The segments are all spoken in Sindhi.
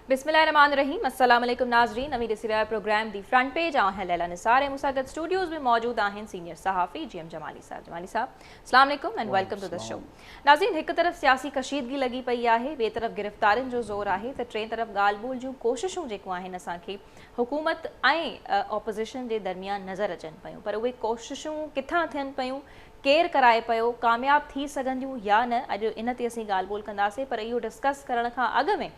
بسم الله الرحمن الرحيم السلام عليڪم ناظرين اوهين ڏسي رهيا پروگرام دي فرنٽ پيج آهن ليلا نثار ۽ مساگت اسٽوڊيوز ۾ موجود آهن سينيئر صحافي جي ايم جمالي صاحب جمالي صاحب السلام عليڪم and welcome to the show ناظرين هڪ طرف سياسي ڪشيدگي لڳي پئي آهي ٻي طرف گرفتارين جو زور آهي ته ٽين طرف ڳالهه ٻولهه جون ڪوششون جيڪون آهن اسان کي حڪومت ۽ اپوزيشن جي درميان نظر اچن پيون پر اهي ڪوششون ڪٿان ٿين پيون ڪير ڪرائي پيو، ڪامياب ٿي سگهنديون يا نه، اڄ ان تي اسين ڳالهه ٻولهه ڪنداسين پر اهو ڊسڪس ڪرڻ کان اڳ ۾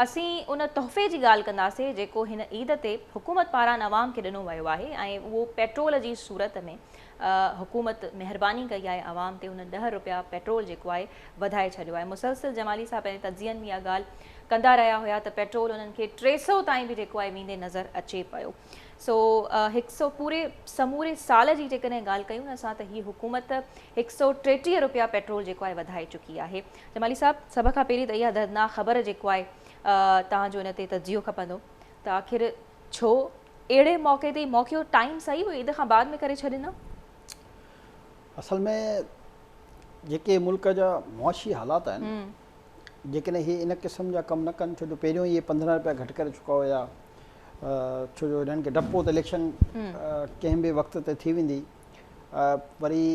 اسين ان تحفي جي ڳالهه ڪنداسين جيڪو هن عيد تي حڪومت پاران عوام کي ڏنو ويو آهي ۽ اهو پيٽرول جي صورت ۾ حڪومت مهرباني ڪئي آهي عوام تي هن ڏهه رپيا پيٽرول جيڪو آهي وڌائي ڇڏيو آهي مسلسل جمالي صاحب پنهنجي تجزين ۾ اها ڳالهه ڪندا رهيا هيا ته پيٽرول انهن کي ٽي سئو تائين به جيڪو آهي ويندي نظر اچي پيو. سو هڪ سئو پوري سموري سال جي جيڪڏهن ڳالهه ڪيون نه اسان ته هي حڪومت هڪ سئو ٽيٽيهه رپيا پيٽرول جيڪو آهي وڌائي چڪي آهي جمالي صاحب سڀ کان پهرين ته اها دردناڪ خبر جيڪو آهي توهان جو ان تي تجزيو کپندو ته آخر ڇو اهڙي موقعي تي موقعو ٽائيم صحيح هو عيد کان بعد ۾ ڪري ڇڏيندا اصل ۾ جيڪي ملڪ جا معاشي حالات آهن جيڪڏهن هي ان قسم جا ڪم نه ڪن ڇو جو پهريون ئي اهي پندرهن رپيا گهٽ ڪري چڪا هيا ڇو جو هنن کي ڊپ هو ته اليڪشن ڪنهن به وقت تي ٿي ويندي وري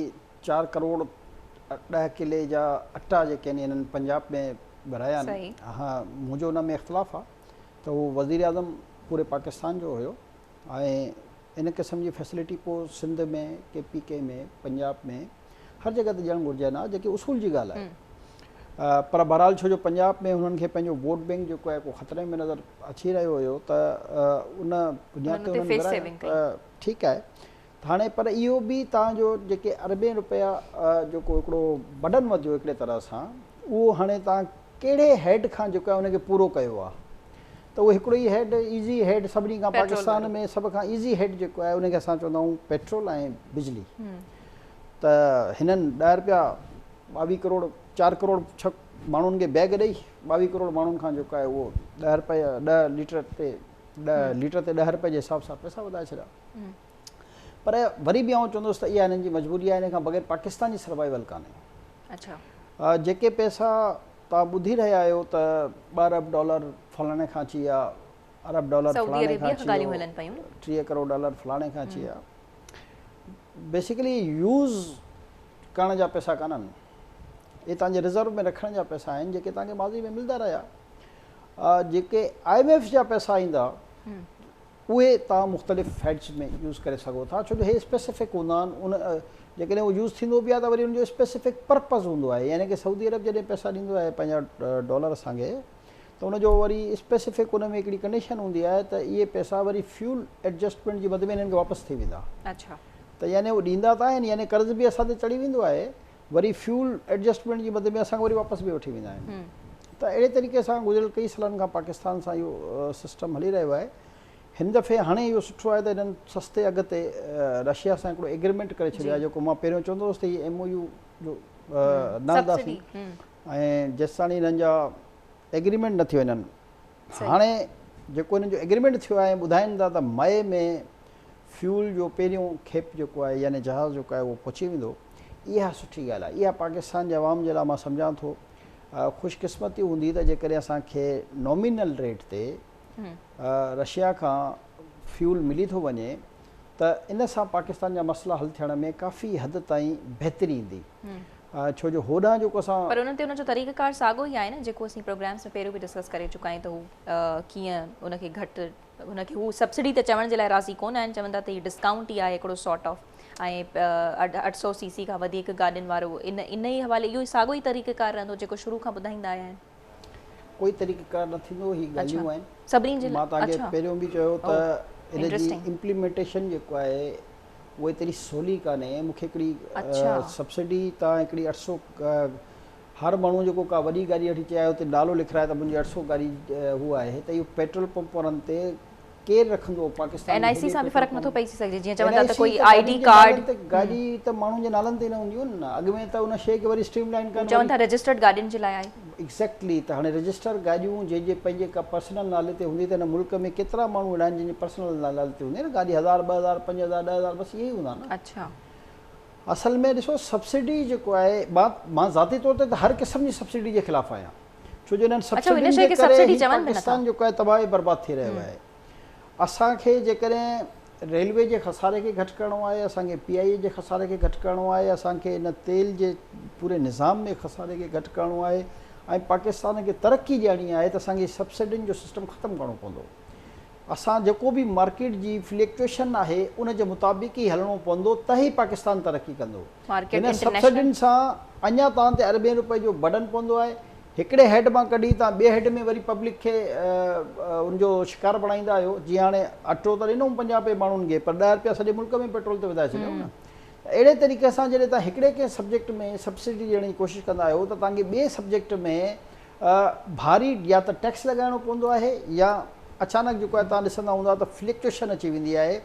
چار ڪروڙ ڏهه ڪلي جا اٽا جيڪي آهن هنن پنجاب ۾ ورهايا آهن ها منهنجو ان ۾ اختلاف آهي ته هو وزير اعظم پوري پاڪستان جو هيو ۽ ان قسم جي فيسلٽي پوء Sindh ۾ K P K ۾ Punjab ۾ هر جڳهه ته ڏيڻ گهرجي نه جيڪي اصول جي ڳالهه آهي پر بهرحال ڇو جو پنجاب ۾ هنن کي پنهنجو ووٽ بينڪ جيڪو آهي ڪو خطري ۾ نظر اچي رهيو هيو ته ان بنياد تي هنن گهرايو ٺيڪ آهي ته هاڻي پر اهو به تان جو جيڪي اربين روپيا جيڪو هڪڙو بڊن وڌيو هڪڙي طرح سان اهو هاڻي تان ڪهڙي هيڊ کان جيڪو آهي ان کي پورو ڪيو آهي ته اهو هڪڙو ئي هيڊ ايزي هيڊ سڀني کان پاڪستان ۾ سڀ کان ايزي هيڊ جيڪو آهي ان کي اسان چوندا آهيون پيٽرول ۽ بجلي ته هنن ڏهه رپيا ٻاويهه ڪروڙ چار ڪروڙ ڇهه ماڻهن کي بيگ ڏئي ٻاويهه ڪروڙ ماڻهن کان جيڪو آهي اهو ڏهه رپيا ڏهه ليٽر تي ڏهه ليٽر تي ڏهه رپئي جي حساب سان پئسا وڌائي ڇڏيا پر وري به آئون چوندس ته اها هنن جي مجبوري آهي ان کان بغير پاڪستان جي سروائيول ڪانهي اچا جيڪي پئسا تان ٻڌي رهيا آهيو ته ٻه ارب ڊالر فلاڻي کان اچي ويا ارب ڊالر فلاڻي کان اچي ويو ٽيهه ڪروڙ ڊالر فلاڻي کان اچي ويا بيسيڪلي يوز ڪرڻ جا پئسا ڪانهن اهي توهان جي رزرو ۾ رکڻ جا پئسا آهن جيڪي توهان کي ماضي ۾ ملندا رهيا جيڪي آء ايم ايف جا پئسا ايندا اهي توهان مختلف فيڊز ۾ يوز ڪري سگهو ٿا ڇو جو هي اسپيسيفڪ هوندا آهن ان جيڪڏهن اهو يوز ٿيندو به آهي ته وري ان جو اسپيسيفڪ پرپز هوندو آهي يعني ڪي سعودي عرب جڏهن پئسا ڏيندو آهي پنهنجا ڊالر اسان کي ته ان جو وري اسپيسفڪ ان ۾ هڪڙي ڪنڊيشن هوندي آهي ته اهي پئسا وري فيول ايڊجسٽمينٽ جي مد ۾ هنن کي واپس ٿي ويندا. ته يعني هو ڏيندا ته آهن يعني قرض به اسان تي چڙهي ويندو آهي وري فيول ايڊجسٽمينٽ جي مد ۾ اسان کان وري واپس به وٺي ويندا آهن ته اهڙي طريقي سان گذريل ڪئي سالن کان پاڪستان سان اهو سسٽم هلي رهيو آهي هن دفعي هاڻي اهو سٺو آهي ته هنن سستي اگهه تي رشيا سان هڪڙو ايگريمينٽ ڪري ڇڏيو آهي جيڪو مان پهريون چوندو هوس ته هي ايم او يو جو نه هلنداسين ۽ جيستاڻي هنن جا ايگريمينٽ نه ٿيو انهن هاڻي جيڪو انهن جو ايگريمينٽ ٿيو آهي ٻڌائين ٿا ته مئي ۾ فيول جو پهريون کيپ جيڪو آهي يعني جهاز جيڪو آهي اهو پهچي ويندو اها سٺي ڳالهه آهي اها پاڪستان جي عوام جي لاء مان سمجهان ٿو خوش قسمتي هوندي ته جيڪڏهن اسان کي نامينل ريٽ تي رشيا کان فيول ملي ٿو وڃي ته ان سان پاڪستان جا مسئلا حل ٿيڻ ۾ ڪافي حد تائين بهتري ايندي ڇو جو هوڏانهن جيڪو اسان پر ان تي ان جو طريقه ڪار ساڳو ئي آهي نه جيڪو اسين پروگرامز ۾ پهريون به ڊسڪس ڪري چڪا آهيون ته هو ڪيئن ان کي گهٽ ان کي هو سبسڊي ته چوڻ جي لاء راضي ڪونه آهن چون ٿا ته هي ڊسڪائونٽ ئي آهي هڪڙو سارٽ آف ۽ اٺ سو سي سي کان وڌيڪ گاڏين وارو ان ان ئي حوالي اهو ساڳو ئي طريقه ڪار رهندو جيڪو شروع کان ٻڌائيندا آيا آهن ڪوئي طريقه ڪار نه ٿيندو هي ڳالهيون آهن سڀني جي لاء مان توهان کي پهريون به چيو ته ان جي امپليمينٽيشن جيڪو آهي اهو ايتري سولي ڪانهي مون کي هڪڙي سبسڊي تان هڪڙي اٺ سو هر ماڻهو جيڪو ڪا وڏي گاڏي وٺي چاهي اتي نالو لکرائي ته منهنجي اٺ سو گاڏي هو آهي ته اهو پيٽرول پمپ وارن تي ڪير رکندو پاڪستان ۾ اين آء سي سان به فرق نٿو پئجي سگهجي جيئن چون ٿا ته ڪوئي آئي ڊي ڪارڊ گاڏي ته ماڻهن جي نالن تي نه هوندي هن نه اڳ ۾ ته ان شي کي وري اسٽريم لائين ڪن چون ٿا رجسٽرڊ گاڏين جي لاء آهي ايگزيڪٽلي ته هاڻي رجسٽر گاڏيون جنهن جي پنهنجي ڪا پرسنل نالي تي هوندي ته هن ملڪ ۾ ڪيترا ماڻهو اهڙا آهن جن جي پرسنل نالي تي هوندي نه گاڏي هزار ٻه هزار پنج هزار ڏهه هزار بس اهي ئي هوندا نه اڇا اصل ۾ ڏسو سبسڊي جيڪو آهي مان مان ذاتي طور تي ته هر قسم جي سبسڊي جي خلاف آهيان ڇو جو انهن سبسڊين جي ڪري هي پاڪستان جو ڪاهي تباهي برباد ٿي رهيو آهي اسان کي جيڪڏهن ريلوي جي خساري کي گهٽ ڪرڻو آهي اسان کي پي آء اي جي خساري کي گهٽ ڪرڻو آهي اسان کي ان تيل جي پوري نظام ۾ خساري کي گهٽ ڪرڻو آهي ۽ پاڪستان کي ترقي ڏيڻي آهي ته اسان کي سبسڊين جو سسٽم ختم ڪرڻو پوندو اسان جيڪو به مارڪيٽ جي فليڪچوئيشن آهي ان جي مطابق ئي هلڻو پوندو ته ئي پاڪستان ترقي ڪندو. مارڪيٽ هن انٽرنيشنل. سبسڊين سان اڃا تان تي اربين روپين جو برڊن پوندو آهي. هڪڙي هيڊ مان ڪڍي تان ٻئي هيڊ ۾ وري پبلڪ کي ان جو شڪار بڻائيندا آهيو. جيئن هاڻي اٽو ته ڏنوم پنجاهه رپئي ماڻهن کي پر ڏهه رپيا سڄي ملڪ ۾ پيٽرول تي وڌائي ڇڏيائون نه. ته اهڙي طريقي سان جڏهن تان هڪڙي ڪنهن سبجيڪٽ ۾ سبسڊي ڏيڻ جي ڪوشش ڪندا آهيو ته تان کي ٻئي سبجيڪٽ ۾ ڀاري يا ته ٽيڪس لڳائڻو پوندو آهي يا اچانڪ جيڪو آهي توهان ڏسندا هوندا ته فلڪچوئشن اچي ويندي آهي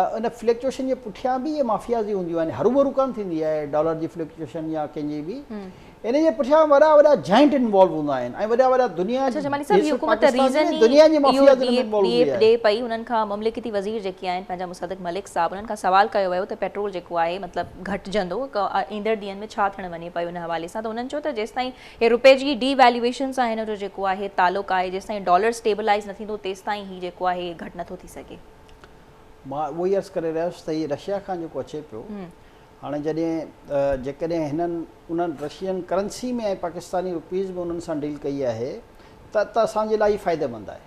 ان فلڪچوئشن جي پٺيان به اهي مافيازي هونديون آهن هروڀرو ڪانه ٿيندي آهي ڊالر جي فلڪچوئشن يا ڪنهن جي به ان جي پٺيان وڏا وڏا جائنٽ انوالو هوندا آهن ۽ وڏا وڏا دنيا اڇا جمالي صاحب هي حڪومت ريزن ئي دنيا جي مافيازي ۾ انوالو هوندي آهي ڏي پئي انهن کان مملڪتي وزير جيڪي آهن پنهنجا مصدق ملڪ صاحب انهن کان سوال ڪيو ويو ته پيٽرول جيڪو آهي مطلب گهٽجندو ايندڙ ڏينهن ۾ ڇا ٿيڻ وڃي پيو ان حوالي سان ته انهن چيو ته جيستائين هي روپي جي ڊي ويليوئيشن سان هن جو جيڪو آهي تعلق آهي جيستائين ڊالر اسٽيبلائيز نه ٿيندو تيستائين هي جيڪو آهي هي گهٽ نٿو ٿي سگهي. مان اهو ئي عرض ڪري رهيس ته هي رشيا کان جيڪو اچي پيو هاڻي جڏهن جيڪڏهن هنن انهن رشين ڪرنسي ۾ ۽ پاڪستاني روپيز ۾ انهن سان ڊيل ڪئي آهي ته ته اسان جي لاء هي فائدي مند آهي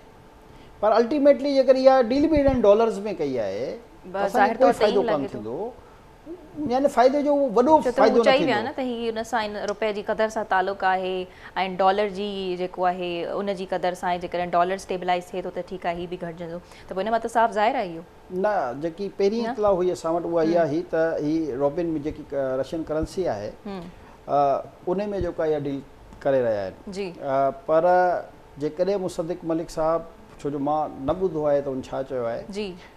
پر الٽيميٽلي جيڪر اها ڊيل به انهن ڊالرز ۾ ڪئي آهي ته اسان کي ڪوئي فائدو ڪانه ٿيندو. يعني فائدي جو اهو وڏو فائدو نه ٿيندو. ڇو ته هو چئي ويا نه ته هي ان سان ان روپئي جي قدر سان تعلق آهي ۽ ڊالر جي جيڪو آهي ان جي قدر سان ۽ جيڪڏهن ڊالر اسٽيبلائيز ٿئي ٿو ته ٺيڪ آهي هي به گهٽجندو ته پوء ان مان ته صاف ظاهر آهي اهو. نه جيڪي پهرين اطلاع هئي اسان وٽ اها اها هئي ته هي روبل ۾ جيڪي رشين ڪرنسي آهي ان ۾ جيڪا اها ڊيل ڪري رهيا آهن پر جيڪڏهن مصدق ملڪ صاحب ڇو جو مان نه ٻڌو آهي ته هن ڇا چيو آهي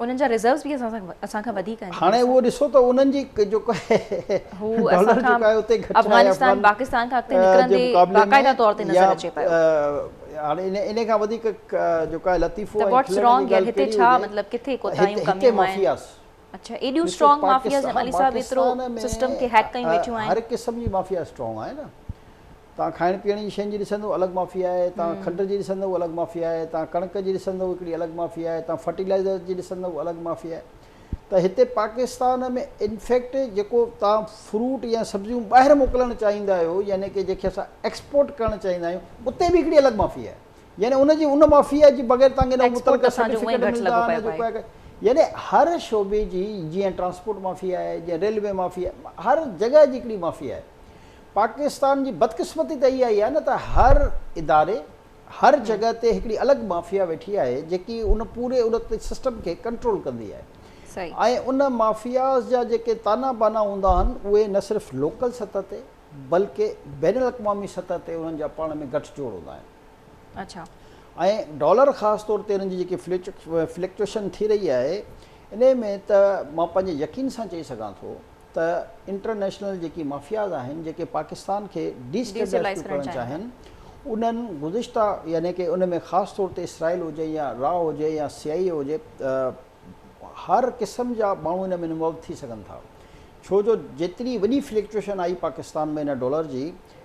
انهن جا ريزروز به اسان سان اسان کان وڌيڪ آهن. هاڻي اهو ڏسو ته انهن جي جيڪو آهي هو اسان کان افغانستان پاڪستان کان اڳتي نڪرندي باقاعده طور تي نظر اچي پيو. هاڻي ان ان کان وڌيڪ جيڪو آهي لطيفو ۽ کلڻ جي ڳالهه ڪهڙي هجي. هتي ڇا مطلب ڪٿي ڪوتاهيون ڪميون آهن. اڇا ايڏيون اسٽرانگ مافياز جي علي صاحب ايترو سسٽم کي هيڪ ڪيون ويٺيون آهن. هر قسم جي مافيا اسٽرانگ آهي نه. تان کائڻ پيئڻ جي شين جي ڏسندو الڳ مافي آهي تان کنڊ جي ڏسندو الڳ مافي آهي تان ڪڻڪ جي ڏسندو هڪڙي الڳ مافي آهي تان فرٽيلائزر جي ڏسندو الڳ مافي آهي ته هتي پاڪستان ۾ انفيڪٽ جيڪو تان فروٽ يا سبزيون ٻاهر موڪلڻ چاهيندا آهيو يعني ڪي جنهن کي اسان ايڪسپورٽ ڪرڻ چاهيندا آهيون اتي به هڪڙي الڳ مافي آهي يعني ان جي ان مافي آهي جي بغير تان کي نه متعلقه سرٽيفڪيٽ ملدا نه جيڪو آهي يعني هر شعبي جي جيئن ٽرانسپورٽ مافي آهي جيئن ريلوي مافي آهي هر جڳهه جي هڪڙي مافي آهي پاڪستان جي بدقسمتي ته اها ئي آهي نه ته هر اداري، هر جڳهه تي هڪڙي الڳ مافيا ويٺي آهي جيڪي ان پوري ان سسٽم کي ڪنٽرول ڪندي آهي ۽ ان مافياز جا جيڪي طعنا بانا هوندا آهن اهي نه صرف لوڪل سطح تي بلڪه بين الاقوامي سطح تي انهن جا پاڻ ۾ گٺ جوڙ هوندا آهن ۽ ڊالر خاص طور تي ان جي جيڪي فلڪچوئيشن ٿي رهي آهي انهي ۾ ته مان پنهنجي يقين سان چئي سگهان ٿو ته انٽرنيشنل جيڪي مافياز آهن جيڪي پاڪستان کي ڊي سٽيبلائيز ٿيو ڪرڻ چاهين انهن گذشته يعني ڪي ان ۾ خاص طور تي اسرائيل هجي يا را هجي يا سي آئي اي هجي هر قسم جا ماڻهو ان ۾ انوالو ٿي سگهن ٿا ڇو جو جيتري وڏي فلڪچوئيشن آئي پاڪستان ۾ ان ڊالر جي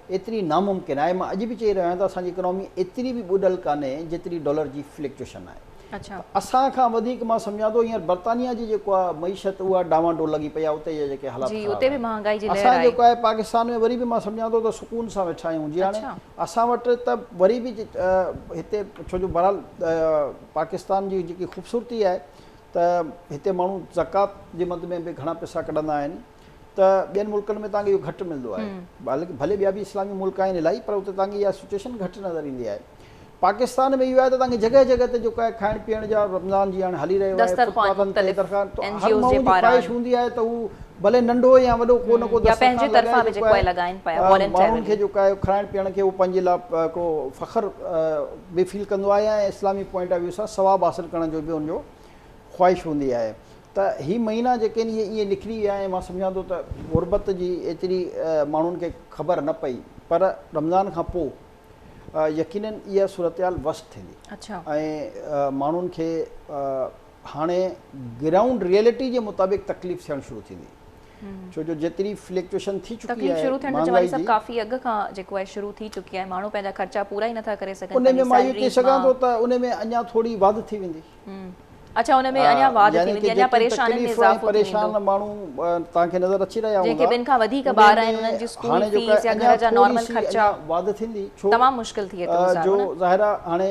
ايتري ناممڪن آهي، مان اڄ به چئي رهيو آهيان ته اسان جي اڪنامي ايتري به ٻڏل ڪانهي جيتري ڊالر جي فلڪچوئيشن آهي ته اسان کان وڌيڪ مان سمجهان ٿو هينئر برطانيا جي جيڪو آهي معيشت اها ڊانوا ڊول لڳي پئي آهي اتي جا جيڪي حالات خراب آهن اسان جيڪو آهي پاڪستان ۾ وري به مان سمجهان ٿو ته سڪون سان ويٺا آهيون جي هاڻي اسان وٽ ته وري به هتي ڇو جو بهرحال پاڪستان جي جيڪي خوبصورتي آهي ته هتي ماڻهو زڪوات جي مد ۾ به گهڻا پئسا ڪڍندا آهن ته ٻين ملڪن ۾ توهان کي اهو گهٽ ملندو آهي بلڪ ڀلي ٻيا به اسلامي ملڪ آهن الائي پر اتي توهان کي اها سچويشن گهٽ نظر ايندي آهي پاڪستان ۾ اهو آهي ته توهان کي جڳهه جڳهه تي جيڪو آهي کائڻ پيئڻ جا رمضان جي هاڻي هلي رهيو آهي فٽپاٿن تي درخان ته هر ماڻهو جي خواهش هوندي آهي ته هو ڀلي ننڍو يا وڏو ڪو نه ڪو دسترخوان لڳائي جيڪو آهي ماڻهن کي جيڪو آهي کائڻ پيئڻ کي هو پنهنجي لاء هڪڙو فخر به فيل ڪندو آهي ۽ اسلامي پوائنٽ آف ويو سان ثواب حاصل ڪرڻ جو به ان جو خواهش هوندي آهي ته هي مهينا جيڪي آهن اهي ائين نڪري ويا ۽ مان سمجهان ٿو ته غربت جي ايتري ماڻهن کي خبر نه پئي پر رمضان کان پوء يقينن اها صورتحال وسٽ ٿيندي ۽ ماڻهن کي هاڻي گرائونڊ ريئلٽي جي مطابق تڪليف ٿيڻ شروع ٿيندي ڇو جو جيتري فليڪچوشن ٿي چڪي آهي شروع ٿيڻ جو سڀ ڪافي اڳ کان جيڪو آهي شروع ٿي چڪي آهي ماڻهو پنهنجا خرچا پورا ئي نٿا ڪري سگهن ان ۾ مان اهو چئي سگهان ٿو ته ان ۾ اڃا ٿوري واڌ ٿي ويندي جيئن ته جيڪي تڪليف ۽ پريشان ماڻهو توهان کي نظر اچي رهيا هوندا انهن ۾ هاڻي جو ڪا اڃا ٿوري سي اڃا واڌ ٿيندي ڇو جو ظاهر آهي هاڻي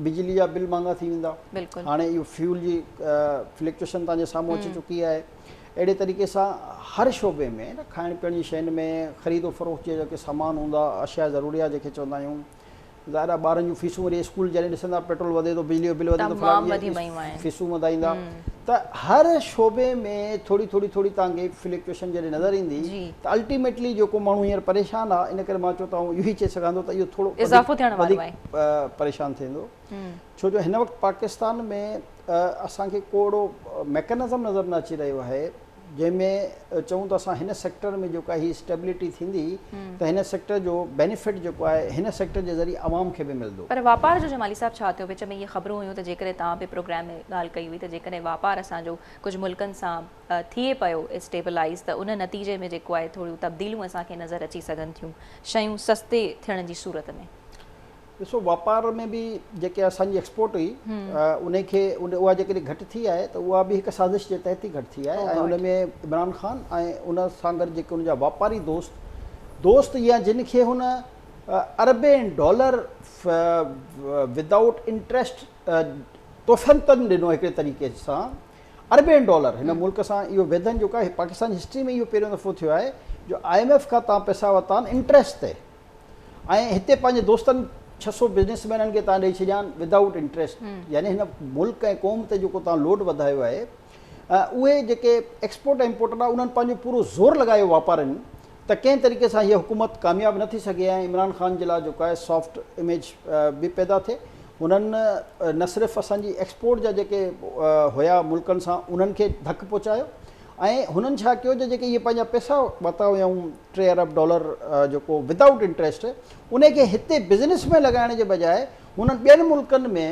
بجلي جا بل مهانگا ٿي ويندا هاڻي اهو فيول جي فلڪچوئيشن توهان جي سامهون اچي چڪي آهي اهڙي طريقي سان هر شعبي ۾ کائڻ پيئڻ جي شين ۾ خريد و فروخت جي جيڪي سامان هوندا اشياء ضروريه جيڪي چوندا آهيون ظاهر آهي ٻارن جون فيسون وري اسڪول جڏهن ڏسن ٿا پيٽرول وڌي ٿو بجلي جو بل وڌي ٿو تمام وڌي ويون آهن فيسون وڌائيندا ته هر شعبي ۾ ٿوري ٿوري ٿوري تان کي فليڪچوئيشن جڏهن نظر ايندي ته الٽيميٽلي جيڪو ماڻهو هينئر پريشان آهي ان ڪري مان چون ته آئون اهو ئي چئي سگهان ٿو ته اهو ٿورو اضافو ٿيڻ وارو آهي پريشان ٿيندو ڇو جو هن وقت پاڪستان ۾ اسان کي ڪو اهڙو ميڪنزم نظر نه اچي رهيو آهي جنهن ۾ چئون ته اسان هن سيڪٽر ۾ جيڪا هي اسٽيبلٽي ٿيندي ته هن سيڪٽر جو بينيفٽ جيڪو آهي هن سيڪٽر جي ذريعي عوام کي به ملندو. پر واپار جو جمالي صاحب ڇا ٿيو وچ ۾ اهي خبرون هيون ته جيڪڏهن توهان به پروگرام ۾ ڳالهه ڪئي هئي ته جيڪڏهن واپار اسان جو ڪجهه ملڪن سان ٿئي پيو اسٽيبلائيز ته ان نتيجي ۾ جيڪو آهي ٿوريون تبديليون اسان کي نظر اچي سگهن ٿيون شيون سستي ٿيڻ جي صورت ۾. ڏسو واپار ۾ به جيڪي اسان جي ايڪسپورٽ هئي انهي کي اها جيڪڏهن گهٽ ٿي آهي ته اها به هڪ سازش جي تحت ئي گهٽ ٿي آهي ۽ ان ۾ عمران خان ۽ ان سان گڏ جيڪي ان جا واپاري دوست دوست يا جن کي هن اربين ڊالر ود آئوٽ انٽريسٽ تحفن ڏنو هڪڙي طريقي سان اربين ڊالر هن ملڪ سان اهو ويڌن جو ڪا پاڪستان جي هسٽري ۾ اهو پهريون دفعو ٿيو آهي جو آء ايم ايف کان تان پئسا ورتا آهن انٽريسٽ تي ۽ هتي پنهنجي دوستن ڇهه سؤ بزنيس مينن کي تان ڏئي ڇڏيان ود آئوٽ انٽريسٽ يعني هن ملڪ ۽ قوم تي جيڪو تان لوڊ وڌايو آهي اهي جيڪي ايڪسپورٽ ۽ امپورٽ ڏانهن انهن پنهنجو پورو زور لڳايو واپارين ته ڪنهن طريقي سان هيء حڪومت ڪامياب نه ٿي سگهي ۽ عمران خان جي لاء جيڪو آهي سافٽ اميج به پيدا ٿئي هنن نه صرف اسان جي ايڪسپورٽ جا جيڪي هيا ملڪن سان انهن کي ڌڪ پهچايو ۽ هنن ڇا ڪيو جو جيڪي اهي پنهنجا پئسا ورتا هيائون ٽي ارب ڊالر جيڪو ود آئوٽ انٽريسٽ انهي کي هتي بزنس ۾ لڳائڻ جي بجاء هنن ٻين ملڪن ۾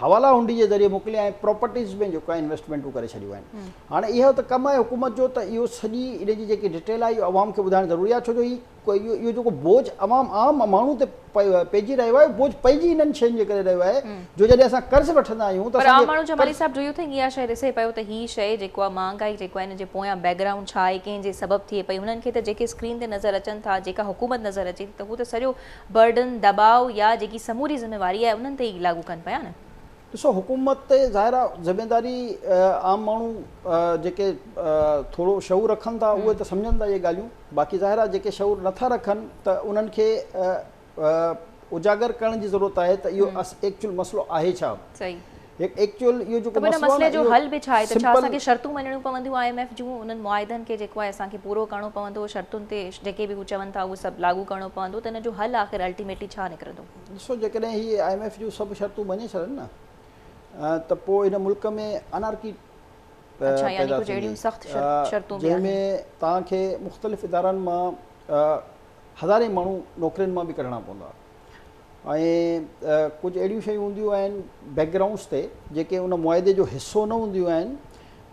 حوالا هنڊي جي ذريعي موڪلي ۽ پراپرٽيز ۾ جيڪو آهي انويسٽمينٽون ڪري ڇڏيون آهن هاڻي اهو ته ڪم آهي حڪومت جو ته اهو سڄي ان جي جيڪي ڊٽيل آهي اهو عوام کي ٻڌائڻ ضروري آهي ڇو جو هي اهو جيڪو بوجھ عوام عام ماڻهو تي پئجي رهيو آهي اهو بوجھ پئجي انهن شين جي ڪري رهيو آهي جو جڏهن اسان قرض وٺندا آهيون ته اسان کي پر عام ماڻهو Jamali sahib do you think اها شيء ڏسي پيو ته هي شيء جيڪو آهي مهانگائي جيڪو آهي ان جي پويان بيڪ گرائونڊ ڇا آهي ڪنهن جي سبب ٿئي پئي هنن کي ته جيڪي اسڪرين تي نظر اچن ٿا جيڪا حڪومت نظر اچي ٿي ته هو ته سڄو برڊن دٻاء يا جيڪي سموري ذميواري آهي انهن تي ئي لاڳو ڪن پيا نه ڏسو حڪومت تي ظاهر آ ذميداري عام ماڻهو جيڪي ٿورو شعور رکن ٿا اهي ته سمجهن ٿا اهي ڳالهيون باقي ظاهر آ جيڪي شعور نٿا رکن ته انهن کي اجاگر ڪرڻ جي ضرورت آهي ته اهو ايڪچوئل مسئلو آهي ڇا ايڪچوئل اهو جيڪو مسئلو آهي نه اهو سمپل ته ان مسئلي جو حل به ڇا آهي ته ڇا اسان کي شرطون مڃڻيون پونديون آء ايم ايف جون انهن معاهدن کي جيڪو آهي اسان کي پورو ڪرڻو پوندو شرطن تي جيڪي به هو چون ٿا اهو سڀ لاڳو ڪرڻو پوندو ته ان جو حل آخر الٽيميٽلي ڇا نڪرندو. ڏسو جيڪڏهن هي آء ايم ايف جون سڀ شرطون مڃي ڇڏن نه ته پوء هن ملڪ ۾ انارڪي پيدا ٿيندي جنهن ۾ توهان کي مختلف ادارن مان هزارين ماڻهو نوڪرين مان به ڪڍڻا پوندا ۽ ڪجهه اهڙيون شيون هونديون آهن بيڪ گرائونڊس تي جيڪي ان معاهدي جو حصو نه هونديون آهن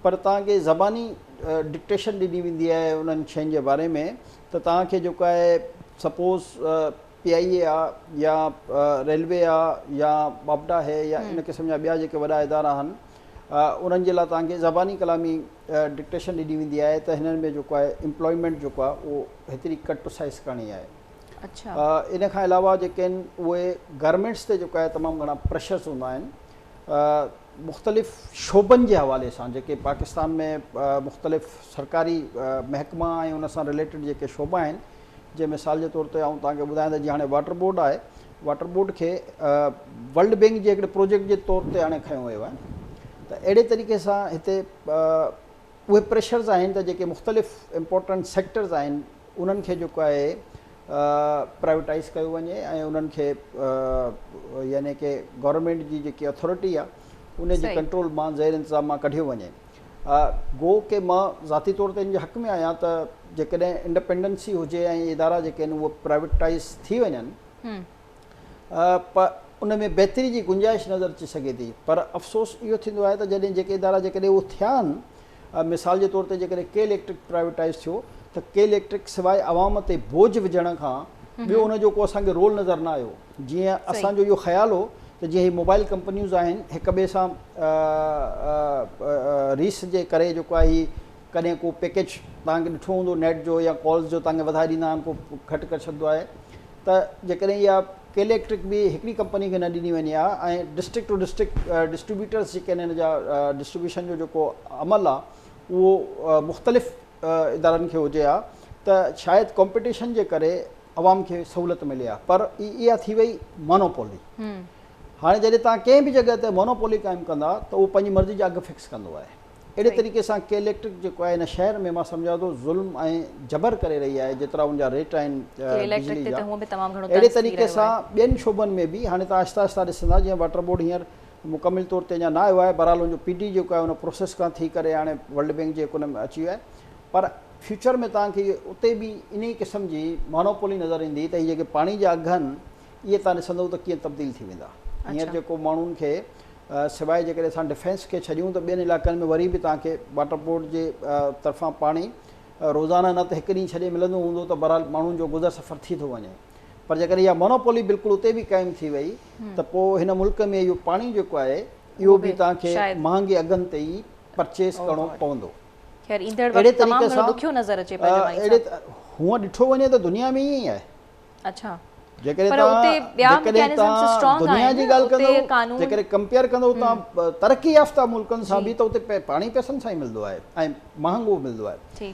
پر توهان کي زباني ڊڪٽيشن ڏني ويندي آهي انهن شين جي باري ۾ ته توهان کي جيڪو آهي سپوز پي آء اي آ يا ريلوي آ يا باپٽا هي يا ان قسم جا ٻيا جيڪي وڏا ادارا آهن انهن جي لاء توهان کي زباني ڪلامي ڊڪٽيشن ڏني ويندي آهي ته هنن ۾ جيڪو آهي امپلائمينٽ جيڪو آهي اهو هيتري ڪٽ ٽو سائز ڪرڻي آهي ان کان علاوه جيڪي آهن اهي گورمينٽس تي جيڪو آهي تمام گهڻا پريشرس هوندا آهن مختلف شعبن جي حوالي سان جيڪي پاڪستان ۾ مختلف سرڪاري محڪما ۽ ان سان رليٽيڊ جيڪي شعبا آهن جيئن مثال جي طور تي آئون توهان کي ٻڌايان ته جيئن هاڻي واٽر بورڊ آهي، واٽر بورڊ کي ورلڊ بئنڪ جي هڪڙي پروجيڪٽ جي طور تي هاڻي کنيو ويو آهي ته اهڙي طريقي سان هتي اهي پريشرز آهن ته جيڪي مختلف امپورٽنٽ سيڪٽرز آهن انهن کي جيڪو آهي پرائيوٽائز ڪيو وڃي ۽ انهن کي يعني ڪي گورنمينٽ جي جيڪي اٿارٽي آهي ان جي ڪنٽرول مان زير انتظام مان ڪڍيو وڃي. گو ڪي مان ذاتي طور تي ان جي حق ۾ آهيان ته جيڪڏهن انڊپينڊنسي هجي ۽ ادارا جيڪي آهن اهي پرائيوٽائيز ٿي وڃن پ ان ۾ بهتري جي گنجائش نظر اچي سگهي ٿي پر افسوس اهو ٿيندو آهي ته جڏهن جيڪي ادارا جيڪڏهن اهو ٿيا آهن مثال جي طور تي جيڪڏهن ڪي اليڪٽرڪ پرائيوٽائيز ٿيو ته ڪي اليڪٽرڪ سواء عوام تي بوجھ وجهڻ کان ٻيو ان جو ڪو اسان کي رول نظر نه آيو جيئن اسان جو اهو خيال هو ته جي هي موبائيل ڪمپنيوز آهن هڪ ٻئي سان ريس جي ڪري جيڪو آهي هي ڪڏهن ڪو پيڪيج توهان کي ڏٺو هوندو نيٽ جو يا ڪالز جو توهان کي وڌائي ڏيندا آهن ڪو گهٽ ڪري ڇڏدو آهي ته جيڪڏهن اها ڪي اليڪٽرڪ به هڪڙي ڪمپني کي نه ڏني وڃي ها ۽ ڊسٽرڪٽ ٽو ڊسٽرڪٽ ڊسٽريبيوٽرز جيڪي آهن ان جا ڊسٽريبيوشن جو جيڪو عمل آهي اهو مختلف ادارن کي هجي ها ته شايد ڪمپيٽيشن جي ڪري عوام کي سهولت ملي ها پر اها ٿي وئي مونوپولي هاڻي جڏهن توهان ڪنهن به جڳهه تي مونوپولي قائم ڪندا ته اهو پنهنجي مرضي جا اگهه فڪس ڪندو آهي اهڙي طريقي سان ڪي اليڪٽرڪ جيڪو آهي هن شهر ۾ مان سمجهان ٿو ظلم ۽ جبر ڪري رهي آهي جيترا ان جا ريٽ آهن بجلي جا اهڙي طريقي سان ٻين شعبن ۾ به هاڻي توهان آهستي آهستي ڏسندا جيئن واٽر بورڊ هينئر مڪمل طور تي اڃا نه آيو آهي بهرحال ان جو پي ڊي جيڪو آهي ان پروسيس کان ٿي ڪري هاڻي ورلڊ بينڪ جي ڪن ۾ اچي ويو آهي پر فيوچر ۾ توهان کي اتي به انهي قسم جي مانوپولي نظر ايندي ته هي جيڪي پاڻي جا اگهه آهن اهي توهان ڏسندو ته ڪيئن تبديل ٿي ويندا هينئر اڇا. جيڪو ماڻهن کي سواء جيڪڏهن اسان ڊفينس کي ڇڏيون ته ٻين علائقن ۾ وري به توهان کي واٽر بورڊ جي طرفان پاڻي روزانه نه ته هڪ ڏينهن ڇڏي ملندو هوندو ته بهرحال ماڻهن جو گذر سفر ٿي ٿو وڃي پر جيڪڏهن اها مانوپولي بلڪل اتي به قائم ٿي وئي ته پوء هن ملڪ ۾ اهو پاڻي جيڪو آهي اهو به توهان کي مهانگي اگهن تي ئي پرچيز ڪرڻو پوندو. خير ايندڙ وقت تمام گهڻو ڏکيو نظر اچي پيو جماعي صاحب. هونء ڏٺو وڃي ته دنيا ۾ ائين ئي آهي. اڇا پر اتي ٻيا مڪينزمز اسٽرانگ آهن نه اتي قانون. جيڪڏهن ڪمپيئر ڪندو توهان ترقي يافته ملڪن سان به ته اتي پاڻي پئسن سان ئي ملندو آهي ۽ مهانگو ملندو آهي.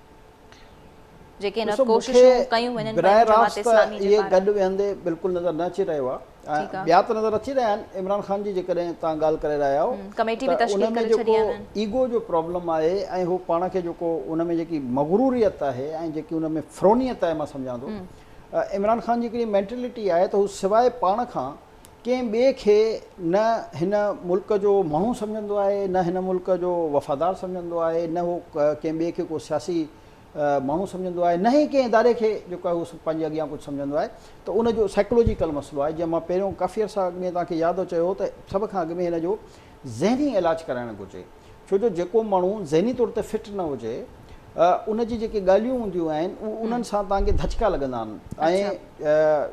جيڪي ان وقت ڪوششون ڪيون وڃن پيون جماعت اسلامي جي پاران. گڏ ويهندي بلڪل نظر نه اچي رهيو آهي ۽ ٻيا ته نظر اچي رهيا آهن عمران خان جي جيڪڏهن توهان ڳالهه ڪري رهيا آهو ته ان ۾ جيڪو ايگو جو پرابلم آهي ۽ هو پاڻ کي جيڪو ان ۾ جيڪي مغروريت آهي ۽ جيڪي ان ۾ فرونيت آهي مان سمجهان ٿو عمران خان جي هڪڙي مينٽلٽي آهي ته هو سواء پاڻ کان ڪنهن ٻئي کي نه هن ملڪ جو ماڻهو سمجهندو آهي، نه هن ملڪ جو وفادار سمجهندو آهي، نه هو ڪنهن ٻئي کي ڪو سياسي ماڻهو سمجهندو آهي، نه ئي ڪنهن اداري کي جيڪو آهي اهو پنهنجي اڳيان ڪجهه سمجهندو آهي ته ان جو سائيڪولوجيڪل مسئلو آهي جنهن مان پهريون ڪافي عرصا اڳ ۾ توهان کي ياد چيو هو ته سڀ کان اڳ ۾ هن جو ذهني علاج ڪرائڻ گهرجي ڇو جو جيڪو ماڻهو ذهني طور تي فٽ نه هجي ان جي جيڪي ڳالهيون هونديون آهن انهن سان توهان کي ڌچڪا لڳندا آهن ۽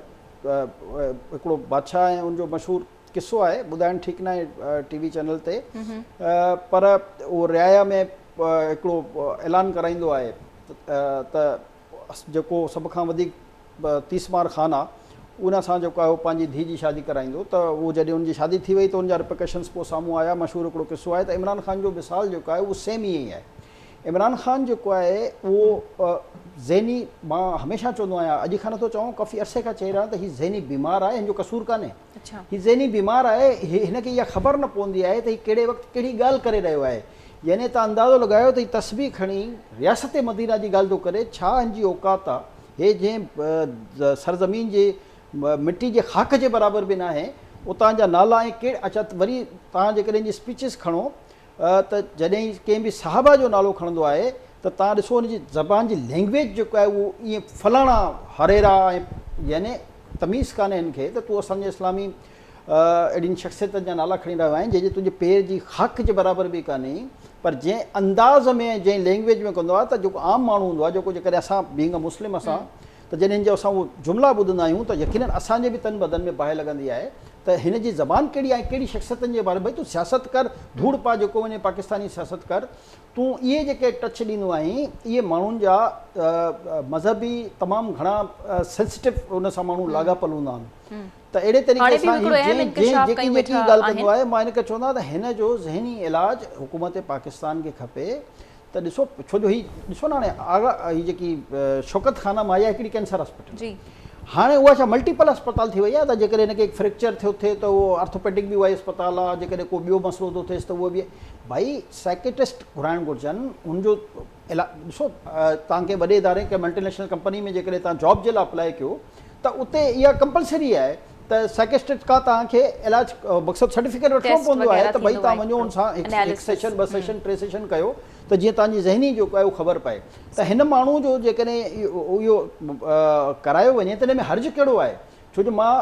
هڪڙو بادشاهه ۽ ان جو مشهور قصو آهي ٻڌائڻ ٺيڪ ناهي ٽي وي چينل تي پر اهو رعايا ۾ هڪڙو اعلان ڪرائيندو آهي ته جيڪو سڀ کان وڌيڪ تيس مار خان آهي ان سان جيڪو آهي پنهنجي ڌيء جي شادي ڪرائيندو ته اهو جڏهن ان جي شادي ٿي وئي ته ان جا رپيڪشنس پوء سامهون آيا مشهور هڪڙو قصو آهي ته عمران خان جو مثال جيڪو آهي اهو سيم ائين ئي آهي عمران خان جيڪو آهي اهو ذهني مان هميشه چوندو آهيان اڄ کان نٿو چوان ڪافي عرصي کان چئي رهيان ته هي ذهني بيمار آهي هن جو قصور ڪانهي هي ذهني بيمار آهي هن کي اها خبر نه پوندي آهي ته هي ڪهڙي وقت ڪهڙي ڳالهه ڪري رهيو آهي يعني تان اندازو لڳايو ته هي تسبيح کڻي رياست مدينه جي ڳالهه ٿو ڪري ڇا هن جي اوقات آهي هي جنهن سرزمين جي مٽي جي خاڪ جي برابر به ناهي اتان جا نالا ۽ ڪهڙ اچا وري تان جيڪڏهن جي اسپيچز کڻو ته جڏهن ڪنهن به صحابه جو نالو کڻندو آهي ته توهان ڏسو ان جي زبان جي لينگويج جيڪو آهي اهو ائين فلاڻا هريرا ۽ يعني تميز ڪانهي هن کي ته تون اسان جي اسلامي اهڙين شخصيتن جا نالا کڻي رهيو آهين جنهن جي تنهنجي پير جي خاڪ جي برابر به ڪانهي پر جنهن انداز ۾ ۽ جنهن لينگويج ۾ ڪندو آهي ته جيڪو عام ماڻهو هوندو آهي جيڪو جيڪڏهن اسان بينگ اي مسلم اسان ته جڏهن جو اسان اهو جملا ٻڌندا آهيون ته يقينن اسان جي به تن بدن ۾ باهه لڳندي آهي ته هن جي زبان ڪهڙي آهي ڪهڙي شخصيتن جي باري ڀئي تون سياست ڪر ڌوڙ پاء جيڪو وڃي پاڪستاني سياست ڪر تون اهي جيڪي ٽچ ڏيندو آهين اهي ماڻهن جا مذهبي تمام گهڻا سينسٽيو ان سان ماڻهو لاڳاپل هوندا آهن ته اهڙي طريقي سان جنهن جيڪي جيڪي ڳالهه ڪندو آهي مان ان کي چوندو آهيان ته هن جو ذهني علاج حڪومت پاڪستان کي کپي ته ڏسو ڇو جو هي ڏسو نه هاڻي آغا هي جيڪي شوڪت خانه مايا هڪڙي ڪينسر اسپتال جي هاڻي اها ڇا ملٽيپل اسپتال ٿي وئي آهي ته جيڪڏهن هن کي هڪ فريڪچر ٿيو ٿي ته اهو آرٿوپيڊڪ به اها ئي اسپتال آهي جيڪڏهن ڪو ٻيو مسئلو ٿو ٿيس ته اهو به ڀائي سائڪيٽسٽ گهرائڻ گهرجن هن جو ڏسو تان ڪنهن وڏي اداري ڪنهن ملٽي نيشنل ڪمپني ۾ جيڪڏهن تان جاب جي لاء اپلاء ڪيو ته اتي اها ڪمپلسري آهي ته سائڪسٽرڪٽ کان توهان کي علاج مقصد سرٽيفڪيٽ وٺڻو پوندو آهي ته ڀئي توهان وڃو ان سان هڪ سيشن ٻه سيشن ٽي سيشن ڪيو ته جيئن توهان جي ذهني جيڪو آهي اهو خبر پئي ته هن ماڻهو جو جيڪڏهن اهو ڪرايو وڃي ته ان ۾ حرج ڪهڙو آهي ڇو جو مان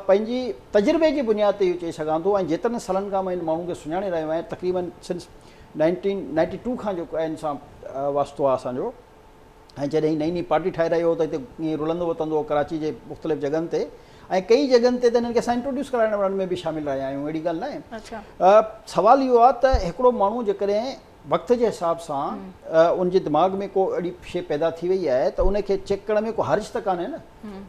پنهنجي تجربي جي بنياد تي اهو چئي سگهان ٿو ۽ جيترن سالن کان مان ان ماڻهو کي سڃاڻي رهيو آهيان تقريبن سنس نائنٽين نائنٽي ٽو کان جيڪو آهي ان سان واسطو آهي اسان جو ۽ جڏهن هي نئين نئين پارٽي ٺاهي رهيو هو ته هتي ائين رلندو وتندو هو ڪراچي جي مختلف جڳهن تي ۽ ڪيئي جڳهن تي ته هنن کي اسان انٽروڊيوس ڪرائڻ وارن ۾ به شامل رهيا آهيون اهڙي ڳالهه ناهي اچا سوال اهو آهي ته هڪڙو ماڻهو جيڪڏهن وقت جي حساب سان ان جي دماغ ۾ ڪو اهڙي شي پيدا ٿي وئي آهي ته ان کي چيڪ ڪرڻ ۾ ڪو حرج ته ڪانهي نه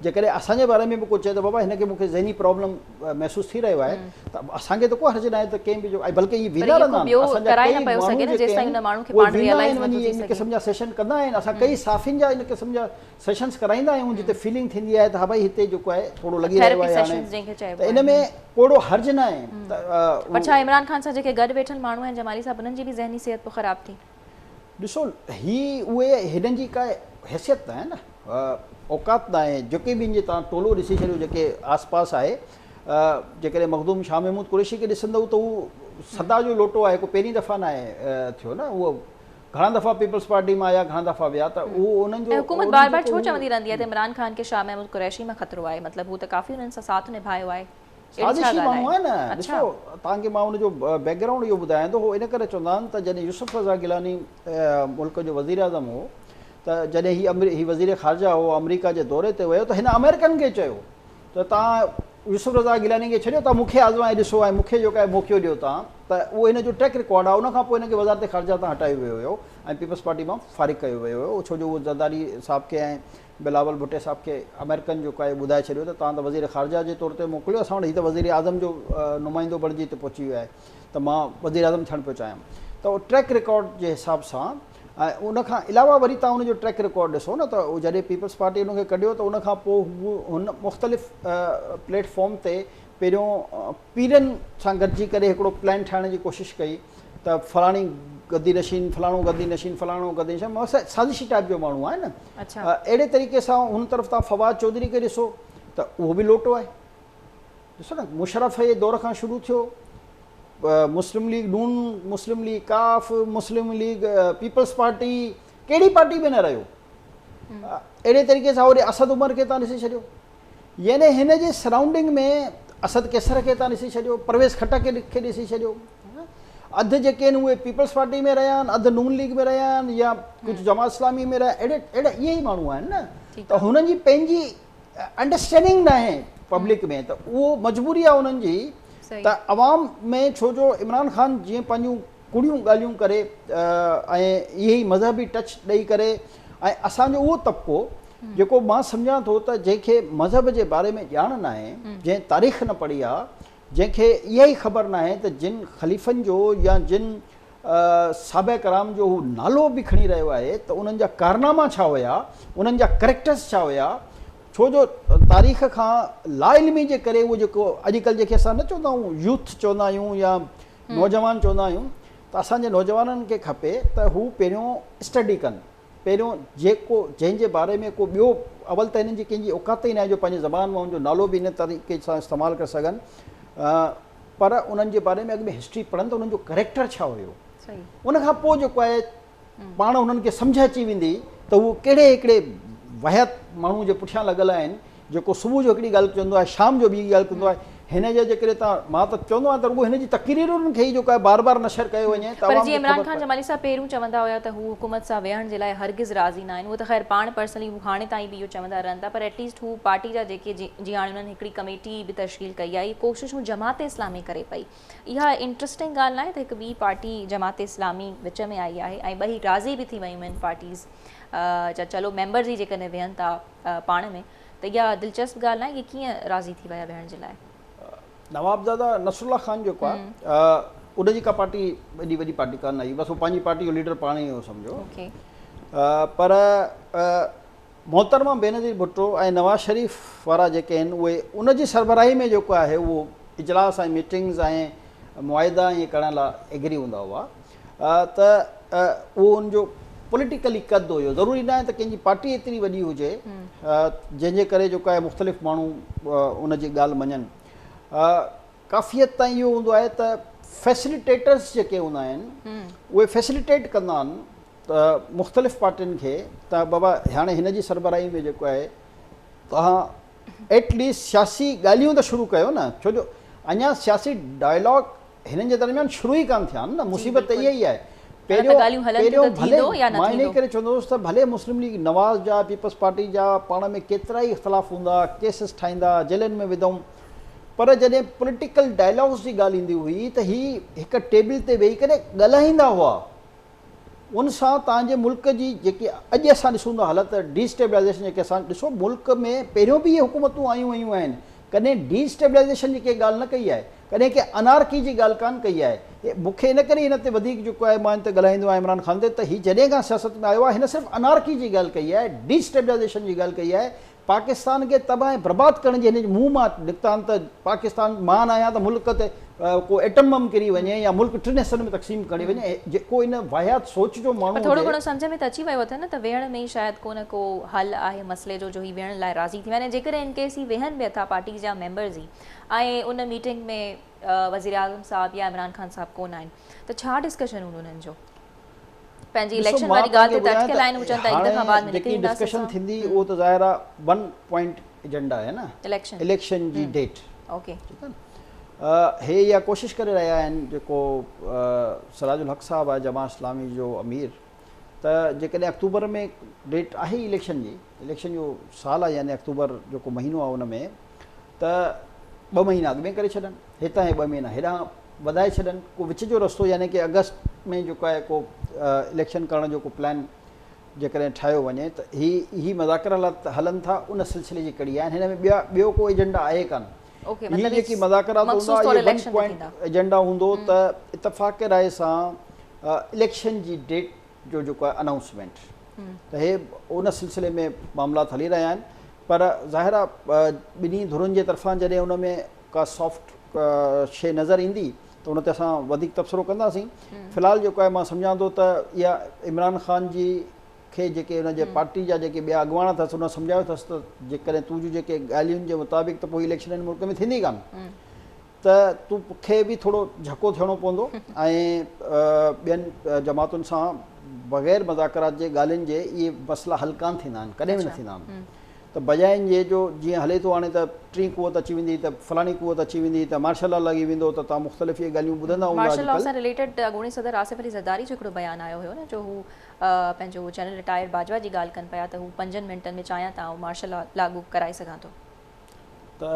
جيڪڏهن اسان جي باري ۾ به ڪو چئي ته بابا هن کي مون کي ذهني پرابلم محسوس ٿي رهيو آهي ته اسان کي ته ڪو حرج ناهي ته ڪنهن به جو بلڪه اهي ويندا رهندا آهن اسان جا ڪيئي ماڻهو جيڪي آهن اهي ويندا آهن وڃي ان قسم جا سيشن ڪندا آهن اسان ڪيئي صحافين جا ان قسم جا سيشنس ڪرائيندا آهيون جتي فيلنگ ٿيندي آهي ته ها ڀائي هتي جيڪو آهي ٿورو لڳي رهيو آهي هاڻي ته ان ۾ ڪوڙو حرج ناهي پر ڇا عمران خان سان جيڪي گڏ ويٺل ماڻهو آهن جمالي صاحب انهن جي به ذهني صحت پوء خراب ٿي ڏسو هي اهي هيڏن جي ڪا حيثيت ناهي نه اوقات ناهي جيڪي به هن جي تان ٽولو ڏسي ڇڏيو جيڪي آس پاس آهي جيڪڏهن مخدوم شاهه محمود قريشي کي ڏسندو ته هو سدا جو لوٽو آهي ڪو پهرين دفعا ناهي ٿيو نه اهو گهڻا دفعا پيپلز پارٽي مان آيا گهڻا دفعا ويا ته اهو انهن جو حڪومت بار بار ڇو چوندي رهندي آهي ته عمران خان کي شاهه محمود قريشي مان خطرو آهي مطلب هو ته ڪافي انهن سان ساٿ نڀايو آهي سازشي ماڻهو آهي نه ڏسو توهان کي مان ان جو بيڪ گرائونڊ اهو ٻڌايان ٿو هو ان ڪري چوندا آهن ته جڏهن يوسف رضا گيلاني ملڪ جو وزير اعظم هو ته جڏهن هي هي وزير خارجه هو آمريڪا جي دوري تي ويو ته هن آمريڪن کي چيو ته توهان يوسف رضا گيلاني کي ڇڏيو توهان مون کي آزمائي ڏسو ۽ مون کي جيڪو آهي موقعو ڏيو توهان ته اهو هن جو ٽريڪ رڪارڊ آهي ان کان پوء هن کي وزارت خارجه تان هٽايو ويو هيو ۽ پيپلز پارٽي مان فارغ ڪيو ويو هيو ڇو جو اهو زرداري صاحب کي ۽ بلاول ڀٽي صاحب کي آمريڪن جو ڪايو ٻڌائي ڇڏيو ته توهان ته وزير خارجه جي طور تي موڪليو اسان وٽ هي ته وزير اعظم جو نمائندو بڻجي هتي پهچي ويو آهي ته مان وزير اعظم ٿيڻ پيو چاهيان ته ٽريڪ رڪارڊ جي حساب سان ۽ ان کان علاوه وري توهان ان جو ٽريڪ رڪارڊ ڏسو نه ته جڏهن پيپلز پارٽي ان کي ڪڍيو ته ان کان پوء هن مختلف پليٽ فارم تي پهريون پيرن سان گڏجي ڪري هڪڙو پلان ٺاهڻ جي ڪوشش ڪئي ته فلاڻي گدي نشين فلاڻو گدي نشين فلاڻو گدي نشين سازشي ٽائيپ جو ماڻهو آهي نه اهڙي طريقي سان هن طرف تان فواد چوڌري کي ڏسو ته اهو به لوٽو آهي ڏسو نه مشرف جي دور کان شروع ٿيو مسلم ليگ نون مسلم ليگ ڪاف مسلم ليگ پيپلز پارٽي ڪهڙي پارٽي ۾ نه رهيو اهڙي طريقي سان وري اسد عمر کي تان ڏسي ڇڏيو يعني هن جي سرائونڊنگ ۾ اسد قيصر کي تان ڏسي ڇڏيو، پرويز خٽڪ کي ڏسي ڇڏيو. اڌ جيڪي آهن اهي پيپلز پارٽي ۾ رهيا آهن، اڌ نون ليگ ۾ رهيا آهن يا ڪجهه جماعت اسلامي ۾ رهيا اهڙي اهڙا اهي ئي ماڻهو آهن نه ته هنن جي پنهنجي انڊرسٽينڊنگ ناهي پبلڪ ۾ ته اهو مجبوري آهي انهن جي ته عوام ۾ ڇو جو عمران خان جيئن پنهنجون ڪڙيون ڳالهيون ڪري ۽ اهي ئي مذهبي ٽچ ڏئي ڪري ۽ اسان جو اهو طبقو جيڪو مان سمجهان ٿو ته جنهن کي مذهب جي باري ۾ ڄاڻ ناهي جنهن تاريخ نه پڙهي آ جنهن کي اها ئي خبر ناهي ته جن خليفن جو يا جن صحابه ڪرام جو هو نالو به کڻي رهيو آهي ته انهن جا ڪارناما ڇا هيا انهن جا ڪريڪٽرس ڇا هيا ڇو جو تاريخ کان لا علمي جي ڪري اهو جيڪو اڄڪلهه جنهن کي اسان نه چوندا آهيون يوٿ چوندا آهيون يا نوجوان چوندا آهيون ته اسان جي نوجوانن کي کپي ته هو پهريون اسٽڊي ڪن پهريون جيڪو جنهن جي باري ۾ ڪو ٻيو اول ته هنن جي ڪنهن جي اوقات ئي ناهي جو پنهنجي زبان مان ان جو نالو به ان طريقي سان استعمال ڪري سگهن پر انهن جي باري ۾ اڳ ۾ هسٽري پڙهن ته انهن جو ڪريڪٽر ڇا هيو ان کان پوء جيڪو آهي پاڻ انهن کي سمجهه اچي ويندي ته هو ڪهڙي هڪڙي وحيات ماڻهو جي پٺيان لڳل آهن جيڪو صبح جو هڪڙي ڳالهه چوندو آهي شام جو ٻي ڳالهه ڪندو آهي هن جا جيڪڏهن تان مان ته چوندو آهيان ته رڳو هن جي تقريرن کي ئي جو ڪا بار بار نشر ڪيو وڃي ته پر جي عمران خان جمالي صاحب پهريون چوندا هيا ته هو حڪومت سان ويهڻ جي لاء هرگز راضي ناهن هو ته خير پاڻ پرسنلي هو هاڻي تائين به اهو چوندا رهن ٿا پر ايٽ ليسٽ هو پارٽي جا جيڪي جي هاڻي انهن هڪڙي ڪميٽي به تشڪيل ڪئي آهي هي ڪوششون جماعت اسلامي ڪري پئي اها انٽرسٽنگ ڳالهه ناهي ته هڪ ٻي پارٽي جماعت اسلامي وچ ۾ آئي آهي ۽ ٻئي راضي به ٿي ويون آهن پارٽيز جا چلو ميمبر جي جيڪڏهن ويهن ٿا پاڻ ۾ ته اها دلچسپ ڳالهه ناهي اهي ڪيئن راضي ٿي ويا ويهڻ جي لاء نوابزاده نصر الله خان جيڪو آهي ان جي ڪا پارٽي ايڏي وڏي پارٽي ڪانه آئي بس هو پنهنجي پارٽي جو ليڊر پاڻ ئي هو سمجھو پر محترمه بينظير ڀٽو ۽ نواز شريف وارا جيڪي آهن اهي ان جي سربراهي ۾ جيڪو آهي اهو اجلاس ۽ ميٽنگز ۽ معاهدا ائين ڪرڻ لا ايگري هوندا هئا ته اهو ان جو پوليٽيڪلي قد هيو ضروري ناهي ته ڪنهن جي پارٽي ايتري وڏي هجي جنهن جي ڪري جيڪو آهي مختلف ماڻهو ان جي ڳالهه مڃن ڪافي حد تائين اهو هوندو آهي ته فيسليٽيٽرس جيڪي هوندا آهن اهي فيسليٽيٽ ڪندا آهن ته مختلف پارٽين کي ته بابا هاڻي هن جي سربراهي ۾ جيڪو آهي توهان ايٽ ليسٽ سياسي ڳالهيون ته شروع ڪيو نه ڇو جو اڃا سياسي ڊائلاگ هنن جي درميان شروع ئي ڪانه ٿيا آهن نه مصيبت ته اها ئي آهي پهريون ڀلي مان انهي ڪري چوندو هوس ته ڀلي مسلم ليگ نواز جا پيپلز پارٽي جا پاڻ ۾ ڪيترا ئي اختلاف هوندا ڪيسز ٺاهيندا جيلن ۾ وڌئون پر جڏهن پوليٽيڪل ڊائلاگز جي ڳالهه ايندي هئي ته هي هڪ ٽيبل تي ويهي ڪري ڳالهائيندا هئا ان سان تهان جي ملڪ جي جيڪي اڄ اسان ڏسون ٿا حالت ڊي اسٽيبلائيزيشن جيڪي اسان ڏسو ملڪ ۾ پهريون به اهي حڪومتون آيون ويون آهن ڪڏهن ڊي اسٽيبلائيزيشن جي ڪنهن ڳالهه نه ڪئي آهي ڪڏهن ڪنهن انارڪي جي ڳالهه ڪانه ڪئي آهي مون کي ان ڪري ان تي وڌيڪ جيڪو آهي مان ان تي ڳالهائيندو آهيان عمران خان تي ته هي جڏهن کان سياست ۾ آيو آهي هن صرف انارڪي جي ڳالهه ڪئي آهي ڊي اسٽيبلائيزيشن جي ڳالهه ڪئي آهي پاڪستان کي تباهه ۽ برباد ڪرڻ جي هن جي منهن مان نڪتان ته پاڪستان مان آهيان ته ملڪ تي ڪو ايٽم بم ڪري وڃي يا ملڪ ٽن حصن ۾ تقسيم ڪري وڃي جيڪو ان واهيات سوچ جو ماڻهو پر ٿورو هجي. گهڻو سمجهه ۾ ته اچي ويو اٿن نه ته ويهڻ ۾ ئي شايد ڪو نه ڪو حل آهي مسئلي جو جو هي ويهڻ لاء راضي ٿي ويا آهن ۽ جيڪڏهن ان ڪيس هي ويهن به اٿا پارٽيز جا ميمبرز ئي ۽ ان ميٽنگ ۾ وزيراعظم صاحب يا عمران خان صاحب ڪونه آهن ته ڇا ڊسڪشن هوندو انهن جو. پنهنجي اليڪشن واري ڳالهه تي ته اٽڪيل آهن هو چون ٿا هڪ دفعا بعد ۾ نڪري اينداسين سان. ڊسڪشن ٿيندي اهو ته ظاهر آهي ون پوائنٽ ايجنڊا آهي نه اليڪشن جي ڊيٽ ٺيڪ آهي هي اها ڪوشش ڪري رهيا آهن جيڪو سراج الحق صاحب آهي جماعت اسلامي جو امير ته جيڪڏهن اڪتوبر ۾ ڊيٽ آهي اليڪشن جي اليڪشن جو سال آهي يعني اڪتوبر جيڪو مهينو آهي ان ۾ ته ٻه مهينا اڳ ۾ ڪري ڇڏن هتان هي ٻه مهينا هيڏانهن وڌائي ڇڏن ڪو وچ جو رستو يعني ڪي اگسٽ ۾ جيڪو آهي ڪو اليڪشن ڪرڻ جو ڪو پلان جيڪڏهن ٺاهيو وڃي ته هي هي مذاڪر حالات هلن ٿا ان سلسلي جي ڪڙي آهن هن ۾ ٻيا ٻيو ڪو ايجنڊا آهي ڪانه هي جيڪي مذاڪرات هوندا اهي ون پوائنٽ ايجنڊا هوندو ته اتفاق رائي سان اليڪشن جي ڊيٽ جو جيڪو آهي انائونسمينٽ ته هي ان سلسلي ۾ معاملات هلي رهيا آهن پر ظاهر آهي ٻنهي ڌرين جي طرفان جڏهن ان ۾ ڪا سافٽ شيء نظر ايندي ته ان تي اسان وڌيڪ تبصرو ڪنداسين في الحال جيڪو آهي مان سمجهان ٿو ته اها عمران خان جي کي جيڪي ان جي پارٽي جا جيڪي ٻيا اڳواڻ اٿس ان سمجهايو اٿس ته جيڪڏهن تون جون جيڪي ڳالهيون جي مطابق ته پوء اليڪشن هن ملڪ ۾ ٿيندي ڪانه ته تو کي به ٿورو جهڪو ٿيڻو پوندو ۽ ٻين جماعتن سان بغير مذاڪرات جي ڳالهين جي اهي مسئلا حل ڪانه ٿيندا آهن ڪڏهن به نه ٿيندا آهن ته بجاء ان جي جو جيئن هلي ٿو هاڻي ته ٽين قوت اچي ويندي ته فلاڻي قوت اچي ويندي ته مارشل لا لڳي ويندو ته توهان مختلف اهي ڳالهيون ٻڌندا هوندا مارشل لا سان رليٽيڊ اڳوڻي صدر آصف علي زرداري جو هڪڙو بيان آيو هيو نه جو هو پنهنجو جنرل رٽائرڊ باجوا جي ڳالهه ڪن پيا ته هو پنجن منٽن ۾ چاهيان ته آئون مارشل لا لاڳو ڪرائي سگهان ٿو ته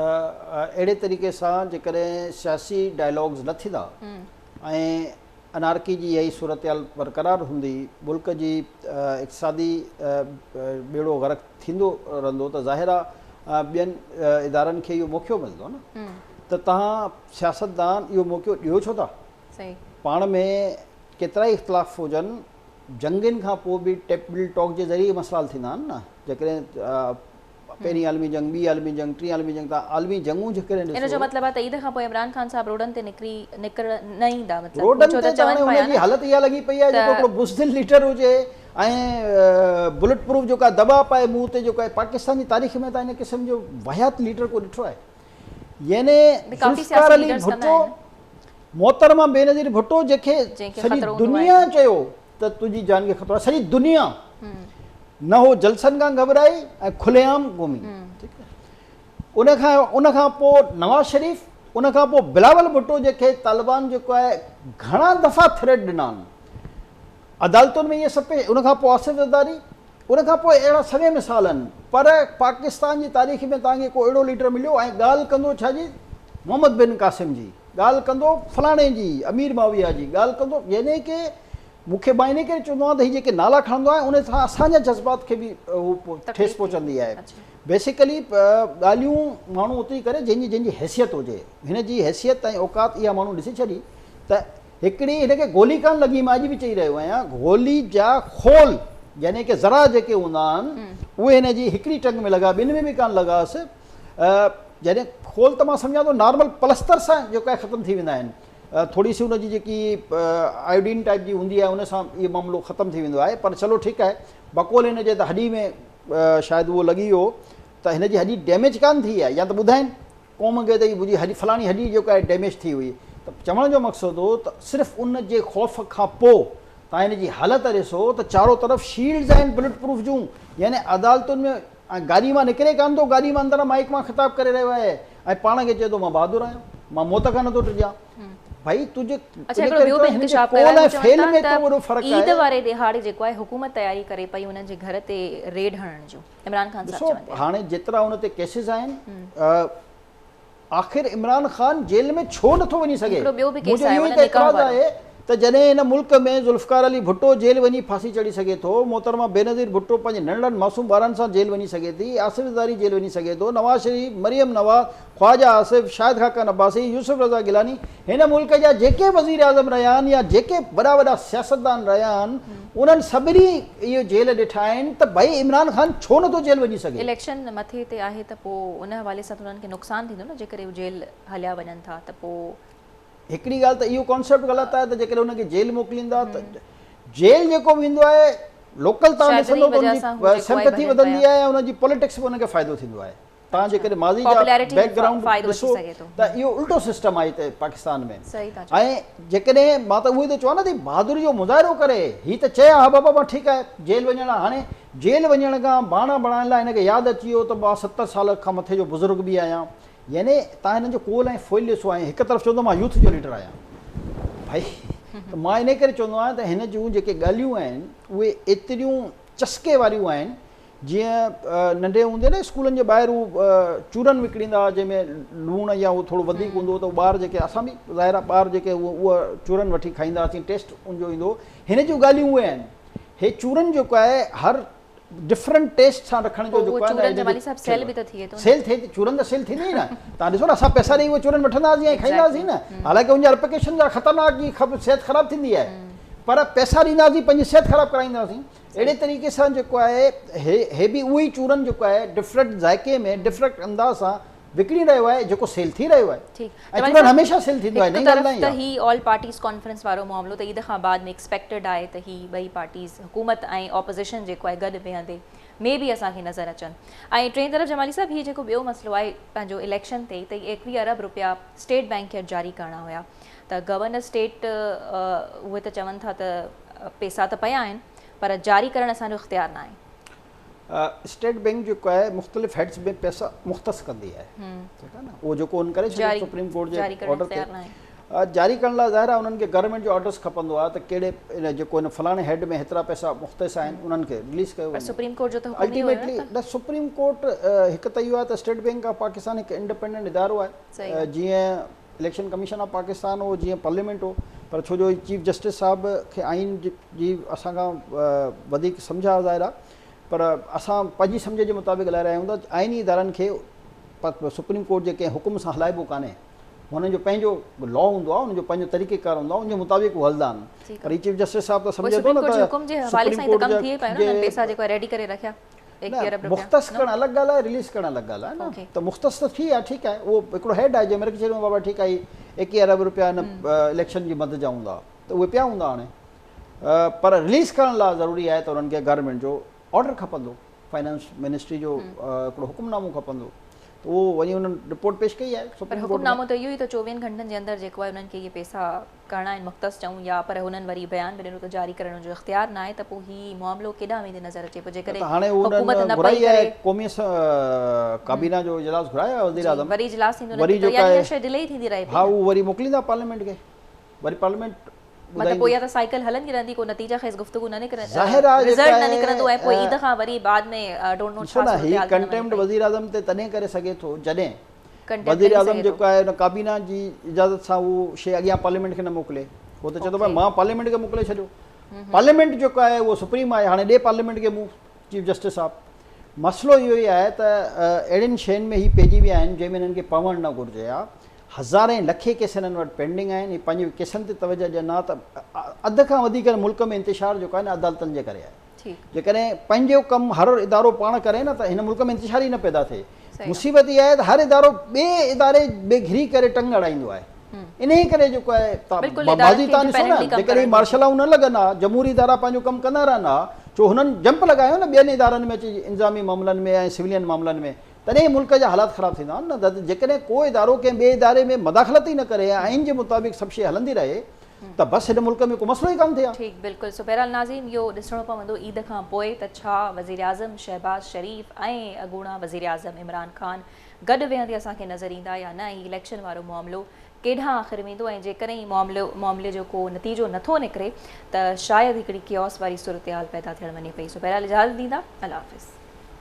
اهڙي طريقي سان جيڪڏهن سياسي ڊائلاگز نه ٿيندا ۽ انارڪي جي اها ئي صورتحال برقرار هوندي، ملڪ جي اقتصادي ٻيڙو غرق ٿيندو رهندو ته ظاهر آ ٻين ادارن کي اهو موقعو ملندو نه ته توهان سياستدان اهو موقعو ڏيو ڇو ٿا؟ پاڻ ۾ ڪيترائي اختلاف هجن، جنگين کان پوء به ٽيبل ٽاڪ جي ذريعي ئي مسئلا حل ٿيندا آهن نه جيڪڏهن پهرين عالمي جنگ، ٻي عالمي جنگ، ٽين عالمي جنگ تان عالمي جنگون جي ڪڏهن ڏسو. ان جو مطلب آهي ته عيد کانپوء عمران خان صاحب روڊن تي نڪري نڪرڻ نه ايندا مطلب روڊن تي ته هاڻي ان جي حالت اها لڳي پئي آهي جيڪو هڪڙو بزدل ليڊر هجي ۽ بلٽ پروف جيڪو آهي دٻا پائي منهن تي جيڪو آهي پاڪستان جي تاريخ ۾ تان هن قسم جو واهيات ليڊر ڪو ڏٺو آهي يعني ذوالفقار علي ڀٽو محترمه بينظير ڀٽو جنهن کي سڄي دنيا چيو ته تنهنجي جان کي خطرو آهي سڄي دنيا نه هو جلسن کان گهٻرائي ۽ کلي عام قومي ان کان ان کان پوء نواز شريف ان کان پوء بلاول ڀٽو جيڪي طالبان جيڪو آهي گهڻا دفعا ٿريٽ ڏنا آهن عدالتن ۾ اهي سڀ ان کان پوء آصف زرداري ان کان پوء اهڙا سوين مثال آهن پر پاڪستان جي تاريخ ۾ تان کي ڪو اهڙو ليڊر مليو ۽ ڳالهه ڪندو ڇا جي محمد بن قاسم جي ڳالهه ڪندو فلاڻي جي امير معاويه جي ڳالهه ڪندو يعني ڪي مون کي مان انهيء ڪري چوندو آهيان ته هي جيڪي نالا کڻندو آهي انهيء سان اسان جا جذبات کي به ٺيس پهچندي آهي. بيسيڪلي ڳالهيون ماڻهو اوتري ڪري جنهن جي جنهن جي حيثيت هجي. هن جي حيثيت ۽ اوقات اها ماڻهو ڏسي ڇڏي ته هڪڙي هن کي گولي ڪانه لڳي مان اڄ به چئي رهيو آهيان گولي جا خول يعني ڪي ذرا جيڪي هوندا آهن اهي هن جي هڪڙي ٽنگ ۾ لڳا ٻن ۾ به ڪانه لڳاس يعني خول ته مان سمجهان ٿو نارمل پلستر سان جيڪا ختم ٿي ويندا آهن. ٿوري سي ان جي جيڪي آيوڊين ٽائيپ جي هوندي آهي ان سان اهو معاملو ختم ٿي ويندو آهي پر چلو ٺيڪ آهي بقول هن جي ته هڏي ۾ شايد اهو لڳي ويو ته هن جي هڏي ڊيميج ڪانه ٿي آهي يا ته ٻڌائين قوم کي ته هي منهنجي هڏي فلاڻي هڏي جيڪا آهي ڊيميج ٿي هئي ته چوڻ جو مقصد هو ته صرف ان جي خوف کان پوء توهان هن جي حالت ڏسو ته چارو طرف شيلڊز آهن بلٽ پروف جون يعني عدالتن ۾ ۽ گاڏيء مان نڪري ڪانه ٿو، گاڏيء مان اندران مائيڪ مان خطاب ڪري رهيو آهي ۽ پاڻ کي چئي ٿو مان بهادر آهيان، مان موت کان نه ٿو ڊڄان. ڀائي تون جي اڇا هڪڙو ٻيو به انڪشاف ڪيو آهي، هو چون ٿا ته عيد واري ڏهاڙي جيڪو آهي حڪومت تياري ڪري پئي انهن جي گهر تي ريڊ هڻڻ جون، عمران خان صاحب چون ٿا. ڏسو هاڻي جيترا ان تي ڪيسز آهن. آخر عمران خان جيل ۾ ڇو نٿو وڃي سگهي؟ منهنجو اهو ئي ته اعتراض آهي ته جڏهن هن ملڪ ۾ ذوالفقار علي ڀٽو جيل وڃي ڦاسي چڙهي سگهي ٿو، محترمه بينظير ڀٽو پنهنجي ننڍڙن معصوم ٻارن سان جيل وڃي سگهي ٿي، آصف زرداري جيل وڃي سگهي ٿو، نواز شريف، مريم نواز، خواجه آصف، شاهد خاقان عباسي، يوسف رضا گيلاني هن ملڪ جا جيڪي وزيراعظم رهيا آهن يا جيڪي وڏا وڏا سياستدان رهيا آهن انهن سڀني اهو جيل ڏٺا آهن ته ڀئي عمران خان ڇو نٿو جيل وڃي سگهي. اليڪشن مٿي تي آهي ته پوء ان حوالي سان ته انهن کي نقصان ٿيندو نه جيڪڏهن هو جيل هليا وڃن ٿا ته پوء. هڪڙي ڳالهه ته اهو ڪانسيپٽ غلط آهي ته جيڪڏهن انهن کي جيل موڪليندا ته جيل جيڪو به هوندو آهي لوڪل تان ڏسندو ته ان جي سمپٿي وڌندي آهي ۽ ان جي پوليٽڪس به ان کي فائدو ٿيندو آهي. تان جيڪڏهن ماضي جا بيڪ گرائونڊ ڏسو ته اهو الٽو سسٽم آهي هتي پاڪستان ۾ ۽ جيڪڏهن مان ته اهو ئي ٿو چوان نه ته بهادري جو مظاهرو ڪري هي ته چئي ها بابا مان ٺيڪ آهي جيل وڃڻ لاء هاڻي جيل وڃڻ کان بهانا بڻائڻ لاء هن کي ياد اچي ويو ته مان ستر سال کان مٿي جو بزرگ به آهيان يعني تان هنن جو قول ۽ فعل ڏسو ۽ هڪ طرف چوندو مان يوٿ جو ليڊر آهيان ڀائي ته مان انهي ڪري چوندو آهيان ته هن جون جيڪي ڳالهيون آهن اهي ايتريون چسڪي واريون آهن جيئن ننڍي هوندي نه اسڪولن جي ٻاهر هو چورن وڪڻيندا هئا جنهن ۾ لوڻ يا اهو ٿورو وڌيڪ هوندو هو ته ٻار جيڪي اسان به ظاهر آهي ٻار جيڪي هو اهو چورن وٺي کائيندا هئاسين ٽيسٽ ان جو ايندو هو هن جون ڳالهيون اهي آهن هي چورن جيڪو آهي هر ڊفرنٽ ٽيسٽ سان رکڻ جو جيڪو آهي نه سيل به ته ٿئي ٿو سيل ٿئي ٿي چورن ته سيل ٿيندي ئي نه تان ڏسو نه اسان پئسا ڏيئي اهو چورن وٺندا هئاسين ۽ کائيندا هئاسين نه حالانڪه ان جا رپڪيشن جا خطرناڪ جي صحت خراب ٿيندي آهي پر پئسا ڏيندا هئاسين پنهنجي صحت خراب ڪرائيندا هئاسين اهڙي طريقي سان جيڪو آهي هي هي به اهو ئي چورن جيڪو آهي ڊفرنٽ ذائقي ۾ ڊفرنٽ انداز سان وڪڻي رهيو آهي جيڪو سيل ٿي رهيو آهي ٺيڪ ۽ چورن هميشه سيل ٿيندو آهي هڪ طرف ته هي آل پارٽيز ڪانفرنس وارو معاملو ته عيد کان بعد ۾ ايڪسپيڪٽيڊ آهي ته هي ٻئي پارٽيز حڪومت ۽ اپوزيشن جيڪو آهي گڏ ويهندي مي بي اسان کي نظر اچن ۽ ٽئين طرف جمالي صاحب هي جيڪو ٻيو مسئلو آهي پنهنجو اليڪشن تي ته ايڪويهه ارب روپيا اسٽيٽ بينڪ کي اڄ جاري ڪرڻا هيا ته گورنر اسٽيٽ اهي ته چون ٿا ته پيسا ته پيا آهن پر جاري ڪرڻ اسان جو اختيار ناهي. اسٽيٽ بئنڪ جيڪو آهي مختلف هيڊز ۾ پيسا مختص ڪندي آهي ٺيڪ آهي نه اهو جيڪو ان ڪري ڇڏيو سپريم ڪورٽ جي آرڊر تي جاري ڪرڻ لاء ظاهر آهي انهن کي گورنمينٽ جو آرڊرس کپندو آهي ته ڪهڙي ان جيڪو ان فلاڻي هيڊ ۾ هيترا پيسا مختص آهن انهن کي رليز ڪيو وڃي سپريم ڪورٽ جو ته حڪم ئي هيو نه سپريم ڪورٽ هڪ ته اهو آهي ته اسٽيٽ بئنڪ آف پاڪستان هڪ انڊپينڊنٽ ادارو آهي جيئن اليڪشن ڪميشن آف پاڪستان هو جيئن پارليامينٽ هو پر ڇو جو هي چيف جسٽس صاحب کي آئين جي اسان کان وڌيڪ سمجهه آهي ظاهر آهي پر اسان پنهنجي سمجهه جي مطابق هلائي رهيا آهيون ته آئيني ادارن کي سپريم ڪورٽ جي ڪنهن حڪم سان هلائبو ڪانهي هنن جو پنهنجو لا هوندو آهي هن جو پنهنجو طريقه ڪار هوندو آهي ان جي مطابق هو هلندا آهن پر هي چيف جسٽس صاحب ته سمجهي ٿو نه ته سپريم ڪورٽ جي حوالي سان ته ڪم ٿئي پيو نه پيسا جيڪو ريڊي ڪري رکيا مختص ڪرڻ الڳ ڳالهه آهي رليز ڪرڻ الڳ ڳالهه آهي نه ته مختص ته ٿي ويا ٺيڪ آهي اهو هڪڙو هيڊ آهي جنهن مهل چئي ڏنو بابا ٺيڪ آهي ايڪيهه ارب روپيا هن اليڪشن جي مد جا هوندا ته اهي پيا هوندا هاڻي پر رليز ڪرڻ لاء ضروري آهي ته انهن کي گورنمينٽ جو آرڊر کپندو فائنانس منسٽري جو هڪڙو حڪم نامو کپندو ته اهو وڃي انهن رپورٽ پيش ڪئي آهي حڪم نامو ته اهو ئي ته چوويهن گهنٽن جي اندر جيڪو آهي انهن کي اهي پيسا ڪرڻا آهن مختص چئون يا پر هنن وري بيان به ڏنو ته جاري ڪرڻ جو اختيار ناهي ته پوء هي معاملو ڪيڏانهن ويندي نظر اچي پئي جيڪڏهن حڪومت نه پئي ڪري قومي ڪابينا جو اجلاس گهرايو آهي وزيراعظم وري اجلاس ٿيندو نه ٿيندو يعني هر شيء ڊلي ئي ٿيندي رهي پئي ها هو وري موڪليندا پارليامينٽ کي وري پارليامينٽ مطلب پوء يا ته سائيڪل هلندي رهندي ڪو نتيجا خيز گفتگو نه نڪري رزلٽ نه نڪرندو ۽ پوء عيد کان وري بعد ۾ ڊونٽ نو ڇا صورتحال ٿيندي ڪنٽيمپٽ وزيراعظم تي تڏهن ڪري سگهي ٿو جڏهن وزيراعظم جيڪو آهي ان ڪابينا جي اجازت سان اهو شيء اڳيان پارليامينٽ کي نه موڪلي هو ته چئي ٿو ڀاء مان پارليامينٽ کي موڪلي ڇڏيو پارليامينٽ جيڪو آهي اهو سپريم آهي هاڻي ڏي پارليامينٽ کي مون چيف جسٽس صاحب مسئلو اهو ئي آهي ته اهڙين شين ۾ هي پئجي ويا آهن جنهن ۾ هنن کي پوڻ نه گهرجي ها هزارين لکين ڪيس هنن وٽ پينڊنگ آهن هي پنهنجي ڪيسن تي توجه ڏين ها ته اڌ کان وڌيڪ ملڪ ۾ انتشار جيڪو آهي نه عدالتن جي ڪري آهي جيڪڏهن پنهنجو ڪم هر ادارو پاڻ ڪري نه ته هن ملڪ ۾ انتشار ئي نه پيدا ٿئي. مصيبت اها آهي ته هر ادارو ٻئي اداري ۾ گهري ڪري ٽنگ اڙائيندو آهي. انهيء ڪري جيڪو آهي ماضي تان ڏسو نه جيڪڏهن هي مارشل لا نه لڳن ها، جمهوري ادارا پنهنجو ڪم ڪندا رهن ها، ڇو هنن جمپ لڳايو نه ٻين ادارن ۾ اچي انتظامي معاملن ۾ ۽ سولين معاملن ۾ تڏهن ئي ملڪ جا حالات خراب ٿيندا نه ته جيڪڏهن ڪو ادارو ڪنهن ٻئي اداري ۾ مداخلت ئي نه ڪري ۽ آئين جي مطابق سڀ شيء هلندي رهي ته بس هن ملڪ ۾ ڪو مسئلو ئي ڪانه ٿئي ها. ٺيڪ بلڪل سو بهرحال ناظرين اهو ڏسڻو پوندو عيد کان پوء ته ڇا وزيراعظم شهباز شريف ۽ اڳوڻا وزيراعظم عمران خان گڏ ويهندي اسان کي نظر ايندا يا نه ۽ اليڪشن وارو معاملو ڪيڏانهن آخر ويندو ۽ جيڪڏهن معاملي جو ڪو نتيجو نٿو نڪري ته شايد هڪڙي ڪيوس واري صورتحال پيدا ٿيڻ وڃي پئي سو بهرحال اجازت ڏيندا الله حافظ.